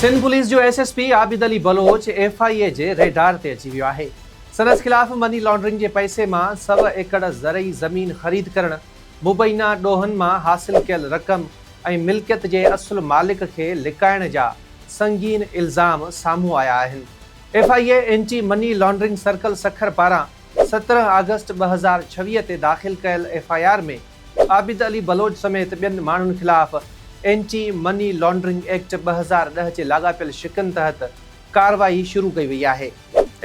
Sindh police جو S S P Abid Ali Baloch F I A جي radar تي اچي ويو آهي، سندس خلاف مني لانڊرنگ جي پئسي مان سؤ ايڪڙ زرعي زمين خريد ڪرڻ، مبينا ڏوهن مان حاصل ڪيل رقم ۽ ملڪيت جي اصل مالڪ کي لڪائڻ جا سنگين الزام سامهون آيا آهن، F I A anti money laundering circle Sukkur پاران سترهن آگسٽ ٻه هزار ڇويهه تي داخل ڪيل F I R ۾ Abid Ali Baloch سميت ٻين ماڻهن خلاف اينٽي مني لانڊرنگ ايڪٽ ٻه هزار ڏهه جي لاڳاپيل شقن تحت ڪارروائي شروع ڪئي وئي آهي.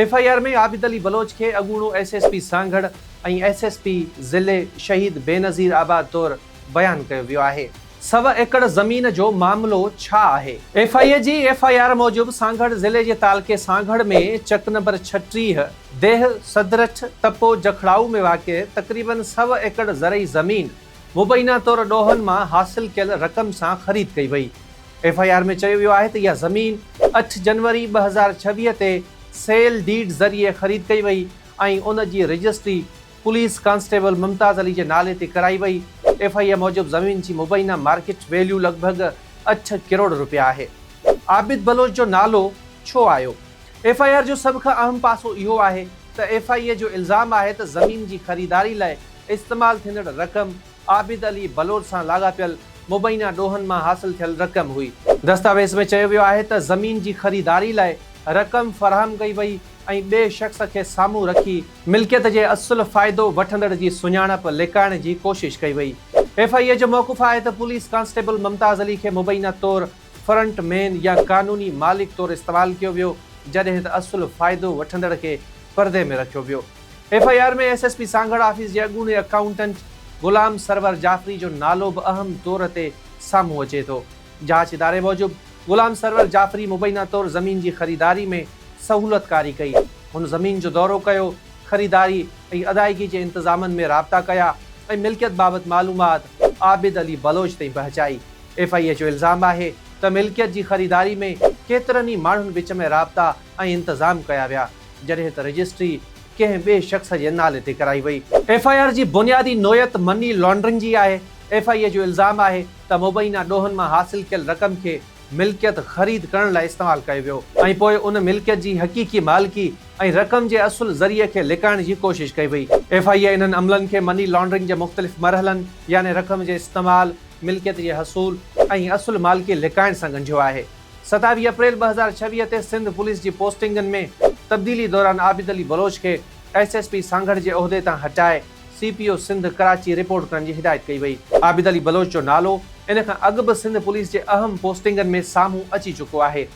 F I R ۾ Abid Ali Baloch کي اڳوڻو S S P Sanghar ۽ S S P ضلعي شهيد بينظير آباد طور بيان ڪيو ويو آهي. سؤ ايڪڙ زمين جو معاملو ڇا آهي؟ ايف آء اي جي ايف آء آر موجب سانگهڙ ضلعي جي تعلقي سانگهڙ ۾ چڪ نمبر ڇٽيهه، ديهه سدرٺ تپو جکڙائو ۾ واقع تقريباً سؤ ايڪڙ زرعي زمين مبينا طور ڏوهن مان حاصل ڪيل رقم سان خريد ڪئي وئي. ايف آء آر ۾ چيو ويو آهي ته اها زمين اٺ جنوري ٻه هزار ڇويهه تي سيل ڊيڊ ذريعي خريد ڪئي وئي ۽ ان جي registry police constable Mumtaz Ali جي نالي تي ڪرائي وئي. ايف آء آر موجب زمين جي مبينا مارڪيٽ ويليو لڳ ڀڳ اٺ ڪروڙ روپيا آهي. عابد بلوچ جو نالو ڇو آيو؟ ايف آء آر جو سڀ کان اهم پاسو اهو آهي ته ايف آء اي جو الزام آهي ته زمين جي خريداري لاء استعمال ٿيندڙ رقم عابد علي بلوچ سان لاڳاپيل مبينا ڏوهن مان حاصل ٿيل رقم هئي. دستاويز ۾ چيو ويو آهي ته زمين جي خريداري لاء رقم فراهم ڪئي وئي ۽ ٻئي شخص کي سامهون رکي، ملڪيت جي اصل فائدو وٺندڙ جي سڃاڻپ لڪائڻ جي ڪوشش ڪئي وئي، ايف آء اي جو موقف آهي ته پوليس ڪانسٽيبل ممتاز علي کي مبينا طور فرنٽ مين يا قانوني مالڪ طور استعمال ڪيو ويو جڏهن ته اصل فائدو وٺندڙ کي پردي ۾ رکيو ويو. F I R ۾ S S P Sanghar office جي اڳوڻي اڪائونٽنٽ غلام سرور جعفري جو نالو به اهم طور تي سامهون اچي ٿو. جاچ اداري موجب غلام سرور جعفري مبينا طور زمين جي خريداري ۾ سهولتڪاري ڪئي. هن زمين جو دورو ڪيو، خريداري ۽ ادائيگي جي انتظامن ۾ رابطا ڪيا ۽ ملڪيت بابت معلومات عابد علي بلوچ تائين پهچائي. ايف آء اي جو الزام آهي ته ملڪيت جي خريداري ۾ ڪيترن ئي ماڻهن وچ ۾ رابطا ۽ انتظام ڪيا ويا، جڏهن ته رجسٽري ڪنهن ٻئي شخص جي نالي تي ڪرائي وئي. ايف آء آر جي بنيادي نوعيت مني لانڊرنگ جي آهي، ايف آء اي جو الزام آهي ته مبينا ڏوهن مان حاصل ڪيل رقم کي ملڪيت خريد ڪرڻ لاء استعمال ڪيو ويو ۽ پوء ان ملڪيت جي حقيقي مالڪي ۽ رقم جي اصل ذريعي کي لڪائڻ جي ڪوشش ڪئي وئي. ايف آء اي انهن عملن کي مني لانڊرنگ جي مختلف مرحلن يعني رقم جي استعمال، ملڪيت جي حصول ۽ اصل مالڪي لڪائڻ سان ڳنڍيو آهي، ستاويهه اپريل ٻه هزار ڇويهه تي سنڌ پوليس جي پوسٽنگن ۾ تبديلي دوران عابد علي بلوچ کي ايس ايس پي سانگهڙ جي عهدي تان هٽائي C P O Sindh Karachi report ڪرڻ جي هدايت ڪئي وئي. عابد علي بلوچ جو نالو ان کان اڳ به سنڌ پوليس جي اهم پوسٽنگن ۾ سامهون اچي چڪو آهي،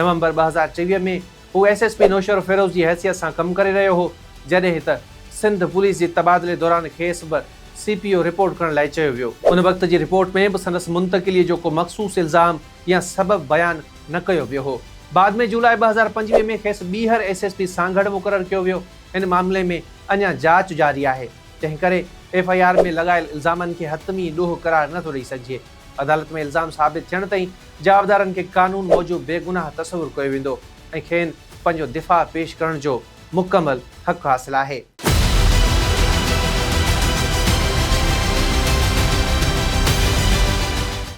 نومبر ٻه هزار ٽيويهه ۾ هو ايس ايس پي نوشهروفيروز جي حيثيت سان ڪم ڪري رهيو هو، جڏهن ته سنڌ پوليس جي تبادلي دوران کيس به سي پي او رپورٽ ڪرڻ لاء چيو ويو. ان وقت جي رپورٽ ۾ به سندس منتقليء جو ڪو مخصوص الزام يا سبب بيان نه ڪيو ويو هو. بعد ۾ جولاء ٻه هزار پنجويهه ۾ کيس ٻيهر ايس ايس پي سانگهڙ مقرر ڪيو ويو. ان معاملي ۾ اڃا جاچ جاري آهي، تنهنڪري ايف آء آر ۾ لڳايل الزامن کي حتمي ڏوهه قرار نه ٿو ڏئي سگهجي. عدالت ۾ الزام ثابت ٿيڻ تائين جوابدارن کي قانون موجب بيگناهه تصور ڪيو ويندو ۽ کين پنهنجو دفاع پيش ڪرڻ جو مڪمل حق حاصل آهي.